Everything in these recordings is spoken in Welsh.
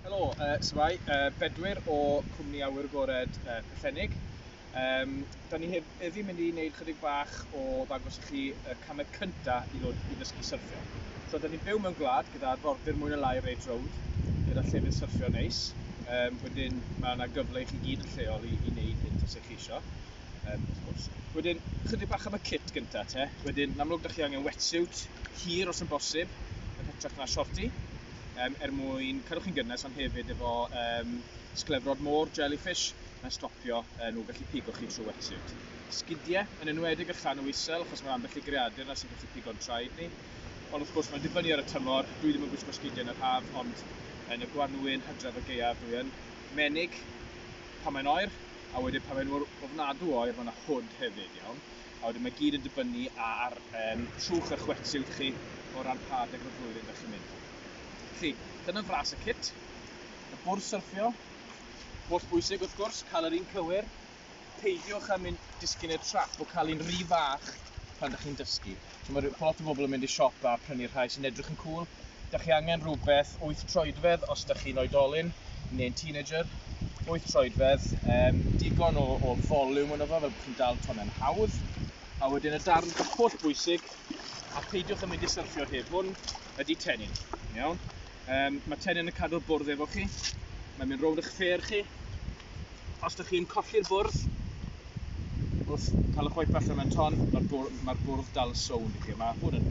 Helo, uh, symai, uh, Bedwyr o Cwmni Awyr Gored uh, Pellennig. Um, da ni hef heddi mynd i wneud chydig bach o ddangos i chi y camau cyntaf i ddod i ddysgu syrffio. So, da ni'n byw mewn gwlad gyda arfordir mwy na lai Rage Road, gyda llefydd syrffio neis. Um, wedyn, mae yna gyfle i chi gyd yn lleol i, i wneud hyn os ydych chi eisiau. um, wrth gwrs. Wedyn, chydig bach am y kit gyntaf te. Wedyn, yn amlwg, da chi angen wetsuit hir os yn bosib, yn hytrach na shorti, um, er mwyn cadw chi'n gynnes, ond hefyd efo um, sglefrod môr, jellyfish, na stopio uh, nhw gallu pigo chi trwy wetsuit. Sgidiau, yn enwedig y llanw isel, achos mae'n ambell i greadur na sy'n gallu pigo'n traed ni. Ond wrth gwrs, mae'n dibynnu ar y tymor, dwi ddim yn gwisgo sgidiau yn yr haf, ond yn y gwanwyn hydref y geiaf dwi yn menig pan mae'n oer, A wedyn pan mae nhw mor ofnadw o oer mae 'na hwd hefyd, iawn? A wedyn mae gyd yn dibynnu ar um, trwch a chwetshywt chi o ran pa adeg o'r flwyddyn ydych chi'n mynd. Felly, dyna fras y cit, y bwrdd syrffio, holl bwysig wrth gwrs, cael yr un cywir, peidiwch â mynd disgyn i'r trap o cael un rhy fach pan ydych chi'n dysgu. Ch'mod ma' lot o bobl yn mynd i siop a prynu'r rhai sy'n edrych yn cŵl. Dach chi angen rhywbeth wyth troedfedd os dach chi'n oedolyn neu'n teenager. Wyth troedfedd, um, digon o, o volume yno fo, fel bod chi'n dal tonnau'n hawdd. A wedyn y darn holl bwysig, a peidiwch yn mynd i syrffio heb hwn, ydy tenyn. Iawn? Yym, mae Tenyn yn cadw'r bwrdd efo chi. Mae'n mynd rownd eich ffêr chi. Os da chi'n colli'r bwrdd, wrth cael y white allan mewn ton, mae'r bwrdd, mae bwrdd dal sownd i chi. Mae hwn yn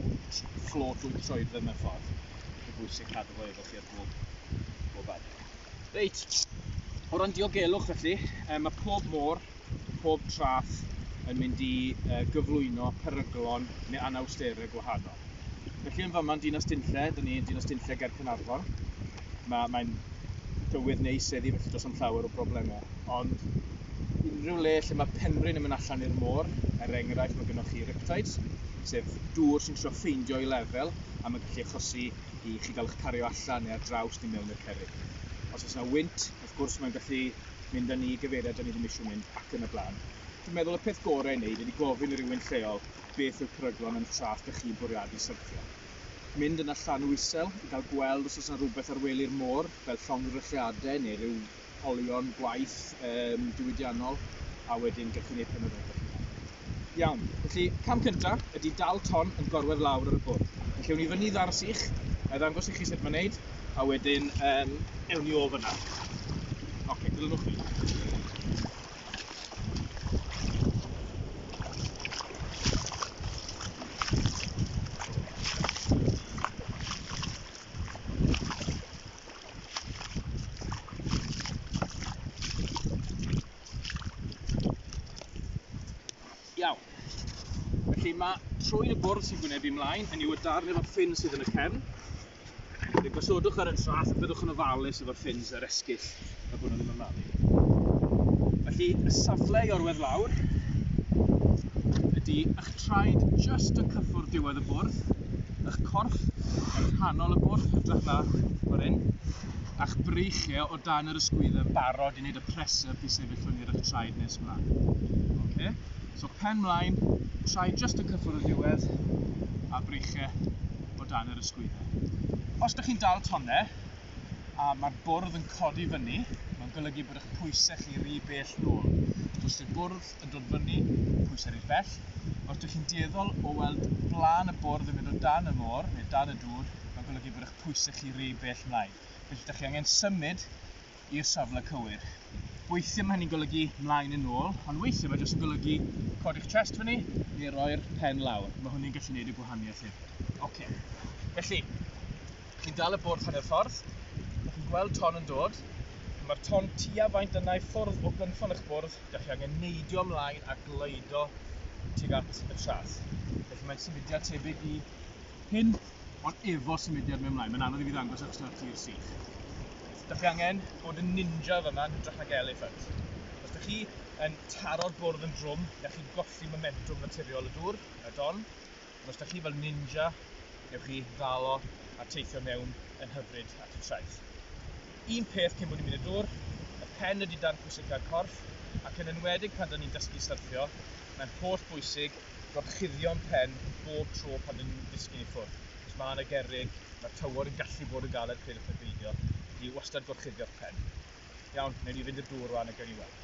fflot wyt troedfedd mewn ffordd. Mae'n bwysig cadw fo efo chi ar bob, bob adeg. Reit, o ran diogelwch felly, mae pob môr pob traeth yn mynd i gyflwyno peryglon neu anawsterau gwahanol. Felly yn fama yn Dinas Dinlle, dyn ni yn Dinas Dinlle ger Cynarfon. Mae, mae'n dywydd neis heddi felly does am llawer o broblemau. Ond unrhyw le lle mae penrhyn yn mynd allan i'r môr, er enghraifft mae gennych chi riptides, sef dŵr sy'n trio ffeindio i lefel a mae'n gallu achosi i chi gael eich cario allan neu ar draws neu mewn i'r cerrig. Os oes yna wynt, Wrth gwrs mae'n gallu mynd â ni i gyfeiriad 'dan ni ddim eisiau mynd ac yn y blaen. Dwi'n meddwl y peth gorau i wneud ydy gofyn i rywun lleol beth yw'r peryglon yn y traeth dych chi'n bwriadu syrthio. Mynd yna llanw isel i gael gweld os oes 'na rywbeth ar wely'r môr fel llongddrychiadau neu ryw olion gwaith yym diwydiannol a wedyn gewch chi wneud penderfyniad eich hunan. Iawn, felly cam cyntaf ydy dal ton yn gorwedd lawr ar y bwrdd. Felly ewn ni fyny ddar sych, a i ddangos i chi sut mae'n neud, a wedyn um, ewn ni o fyna. Oce, okay, dilynwch fi. Iawn. Felly mae trwyn y bwrdd sy'n gwneud fi mlaen, hynny yw y darn efo'r ffyn sydd yn y cefn. Felly gosodwch ar y trath a byddwch yn ofalus efo'r ffins a'r esgyll a bod nhw ddim yn malu. Felly y safle i orwedd lawr ydy eich traed just yn cyffwrdd diwedd y bwrdd, eich corff yn rhannol y bwrdd, hytrach na o'r un. a'ch breichiau o dan yr ysgwyddau yn barod i wneud y presser i sefyll fyny ar eich traed nes ymlaen. Okay? So pen mlaen, traed just yn cyffwrdd y diwedd, a breichiau o dan yr ysgwyddau. Os ydych chi'n dal tonnau, a mae'r bwrdd yn codi fyny, mae'n golygu bod eich pwysau chi rhy bell nôl. Os yw'r bwrdd yn dod fyny, pwysau rhy bell. Os ydych chi'n dueddol o weld blaen y bwrdd yn mynd o dan y môr neu dan y dŵr, mae'n golygu bod eich pwysau chi rhy bell mlaen. Felly, ydych chi angen symud i'r safle cywir. Weithiau mae hynny'n golygu mlaen yn ôl, ond weithiau mae jyst yn golygu codi'ch chest fyny neu roi'r pen lawr. Mae hwnny'n gallu gwneud y gwahaniaeth hyn. Oce. Okay. Felly, chi'n dal y bwrdd hanner ffordd, ydych chi'n gweld ton yn dod, mae'r ton tua faint yna i ffwrdd o gynffon eich bwrdd, ydych chi angen neidio ymlaen a gleido tuag at y trath. Felly mae'n symudiad tebyg i hyn, ond efo symudiad mewn mlaen, mae'n anodd i fi ddangos achos dyna'r tir sych. Dych chi angen bod yn ninja fy yma yn hytrach nag elephant. Os dych chi yn taro'r bwrdd yn drwm, dych chi'n golli momentum naturiol y dŵr, y don, ond os dych chi fel ninja, newch chi ddalo a teithio mewn yn hyfryd at y traeth. Un peth cyn bod ni'n mynd y dŵr, y pen ydy darn pwysica'r corff, ac yn enwedig pan dyn ni'n dysgu syrffio, mae'n holl bwysig gorchuddion pen bob tro pan dyn nhw'n disgyn i ffwrdd. Os mae yna gerrig, mae'r tywod yn gallu bod yn galed peidiwch â pheidio, felly wastad gorchuddio'ch pen. Iawn, wnewn ni fynd i'r dŵr rwan a gewn ni weld.